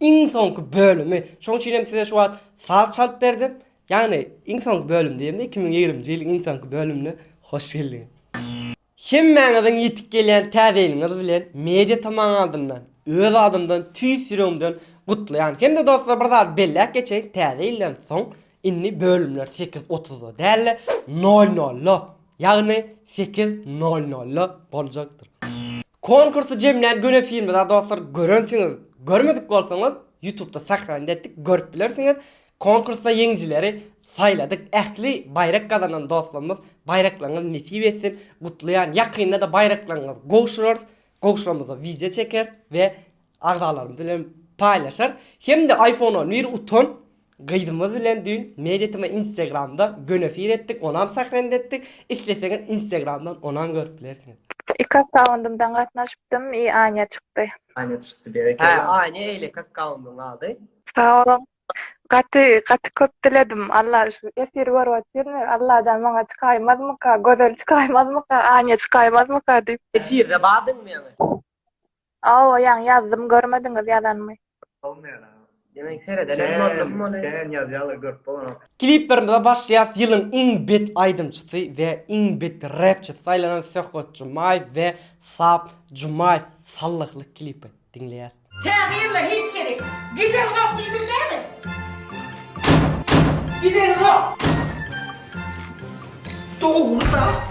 Iň soňky bölümi, şoň üçin hem size şu wagt saz çalyp berdim. Ýagny iň soňky bölüm diýemde iki müň ýigriminji ýylyň iň soňky bölümine hoş geldiňiz. Hemmäňiziň ýetip gelýän täze ýylyňyz bilen Media TMAň adyndan, öz adymdan tüýs ýüregimden gutlaýan. Hem-de dostlar bir zady belläp geçeýin, täze ýyldan soň indi bölümler sekiz otuzda däl-de nol nolda, ýagny sekiz nol nolda boljakdyr. Konkursy jemlän göni filmi da dostlar görensiňiz görmedik bolsaňyz ýutubda sahranit etdik görüp bilersiňiz konkursda ýeňijileri saýladyk ähli baýrak gazanan dostlarymyz baýraklaryňyz nesip etsin gutlaýan ýakynda da baýraklaryňyz gowşurarys gowşuramyzda wideo çekeris we agzalarymyz bilen paýlaşar hem-de iPhone on bir utan gyzymyz bilen düýn Mediatm-a Instagramda göni efir etdik, onam sahrend etdik, isleseňiz Instagramdan onam görüp bilersiňiz. Iki akkauntymdan gatnaşypdym i Anja çykdy. Anja çykdy berekella. Hä Anja eýleki akkauntyn ady. Sag boluň. Gaty gaty köp diledim. Alla şu efiri görüp otyrmy. Allajan maňa çykaýmazmyka, Gözel çykaýmazmyka, Anja çykaýmazmyka diýip. Efirde bardyňmy ýaňy? Awa ýaňy ýazdym görmediňiz ýazanymy. Demek seredenem boldum muny. Kän ýazýalar görüp bolanok. Kliplerimize başlaýas ýylyň iň bet aýdymçysy we iň bet repçisi saýlanan Söhbet Jumaýew we Sap Jumaýew Sallyhly klipi diňleýäs. Täze ýylda hiç ýerik giderizok diýdim näme? Giderizok. Dogry zat.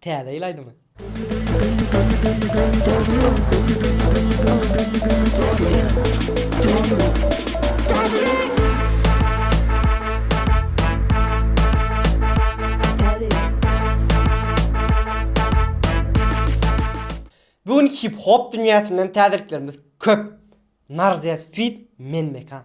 Täze ýyl aýdymy. Bu gün hip hop dünýäsinden täzeliklerimiz köp. Narzias feat. Men Mekan.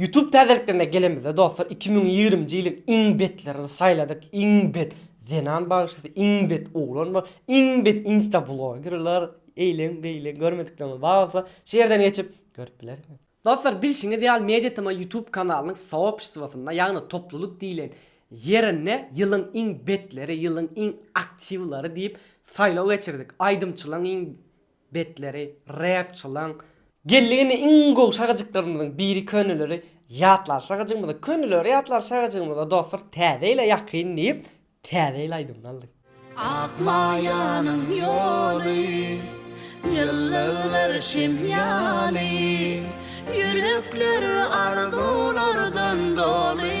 Youtube täzeliklerine gelemizde dostlar iki müň ýigrimi nji ýylyň iň betlerini saýladyk iň bet zenan bagşysy iň bet oglan ba iň bet insta blogerler eýleň beýleň görmediklerimiz bar bolsa şu ýerden geçip görüp bilersiňiz. Dostlar bilşiňiz ýaly Media Tma Youtube kanalynyň soobşstwosynda ýagny toplulyk diýlen ýerinde ýylyň iň betleri ýylyň iň aktiwleri diýip saýlaw geçirdik aýdymçylaň iň Betleri rapçylaň. Geldik indi iň gowy şagajyklarymyzyň biri köneleri ýatlar şagajygymyzy köneleri ýatlar şagajygymyzy dostlar täze ýyla ýakyn diýip täze ýyl aýdymyny aldyk. Ak maýanyň ýoly, ýyllyglar şem ýaly, Ýürekler arzuwlardan doly.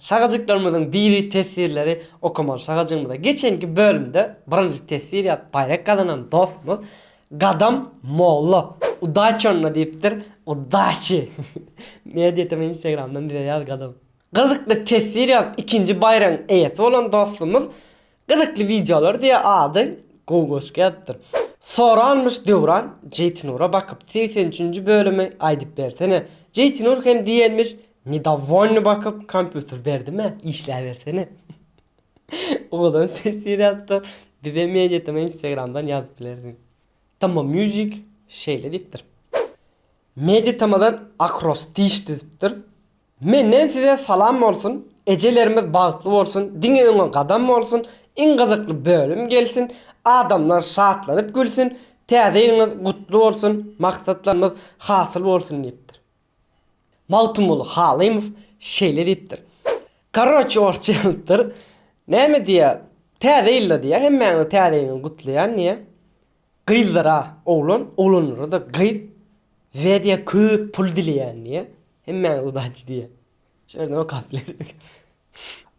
Şagajyklarymyzyň diri teswirleri okamaly şagajygymyza. Geçenki bölümde birinji teswir ýazyp baýrak gazanan dostumyz Gadam molla Udaçonna diýipdir, Udaçi! Media tm instagramdan bize ýaz Gadam. Gyzykly teswir ýazyp ikinji baýragyň eýesi bolan dostumyz Gyzykly wideolar diýe ady gowy goşgy ýazypdyr. Soranmyş Döwran Jeýtinura bakyp segsen üçünji bölümi aýdyp bersene Jeýtinur hem diýenmiş Nedowolny bakyp kompýuter berdimä işläbersene Owadan teswir ýazypdyr Bize mediatm instagramdan ýazyp bilersiň Tama music şeýle diýipdir Mediatamadan akrostiş düzüpdir Menden size salam bolsun Ejelerimiz bagtly bolsun diňe öňe gadam bolsun iň gyzykly bölüm gelsin adamlar şatlanyp gülsün täze ýylyňyz gutly bolsun maksatlarymyz hasyl bolsun diýipdir. Magtymguly Halymow şeýle diýipdir. Korroçe orsça ýazypdyr. Näme diýýär? Täze ýylda diýýär hemmäňizi täze ýyl bilen gutlaýan diýýär. Gyzlara oglan, oglanlara-da gyz Wedýa köp pul dileýän diýýär. Hemmäňiz udaçi diýýär. Şu ýerden okap bilersiňiz.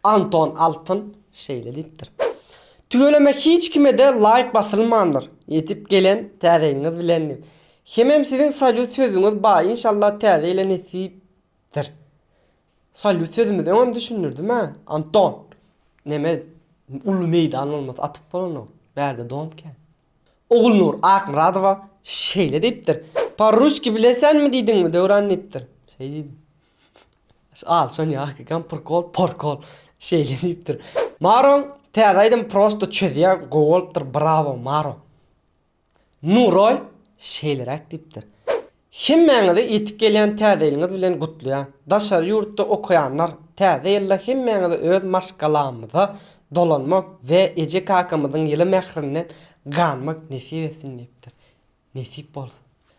Anton Altyn şeýle diýipdir. Tüweleme hiç kime-de laýk basylmandyr. Ýetip gelen täze ýylyňyz bilen diýip. Hemem siziň salýut sözüňiz ba inşallah täze ýyla nesipdir. Salýut sözümizi öňem düşündirdim a, Anton. Neme, uly meýdan bolmasa atyp bolanok. Bärde dom kän. Ogulnur Akmyradowa şeýle diýipdir, Parruski bilesenmi diýdiňmi, Döwran diýipdir. Şeý diýdim. Şu alşan ýaky gampyrkol, porkol şeýle diýipdir. Maroň täze aýdymy prosto çözýär, gowy bolupdyr, brawo, Maro. Nuroý şeýleräk diýipdir, Hemmäňizi ýetip gelýän Täze ýylyňyz bilen gutlaýan. Daşary ýurtda okaýanlar Täze ýylda hemmäňizi öz maşgalamyza dolanmak we eje-kakamyzyň ýyly mährinden ganmak nesip etsin diýipdir. Nesip bolsun.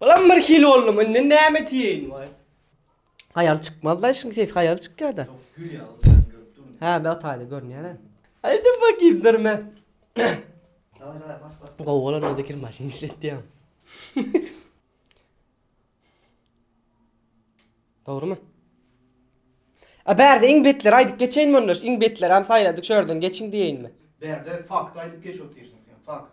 Bulam bir hili boldum indi näme diýeýin waý. Haýal çykmazda işiň sesi haýal çykýada. Ýok gül ýaly sen görüp durmuň. Hä be otayda görünýäne. Aýda bakýyn durme. Daway daway bas bas. Gowy bolan özi kir maşyn işletýän. Dogrymy? A bärde iň betleri aýdyp geçeýinmi onda iň betleri hem saýladyk şu ýerden geçiň diýeýinmi? Bärde fakt aýdyp geç otyrsyň sen fakt.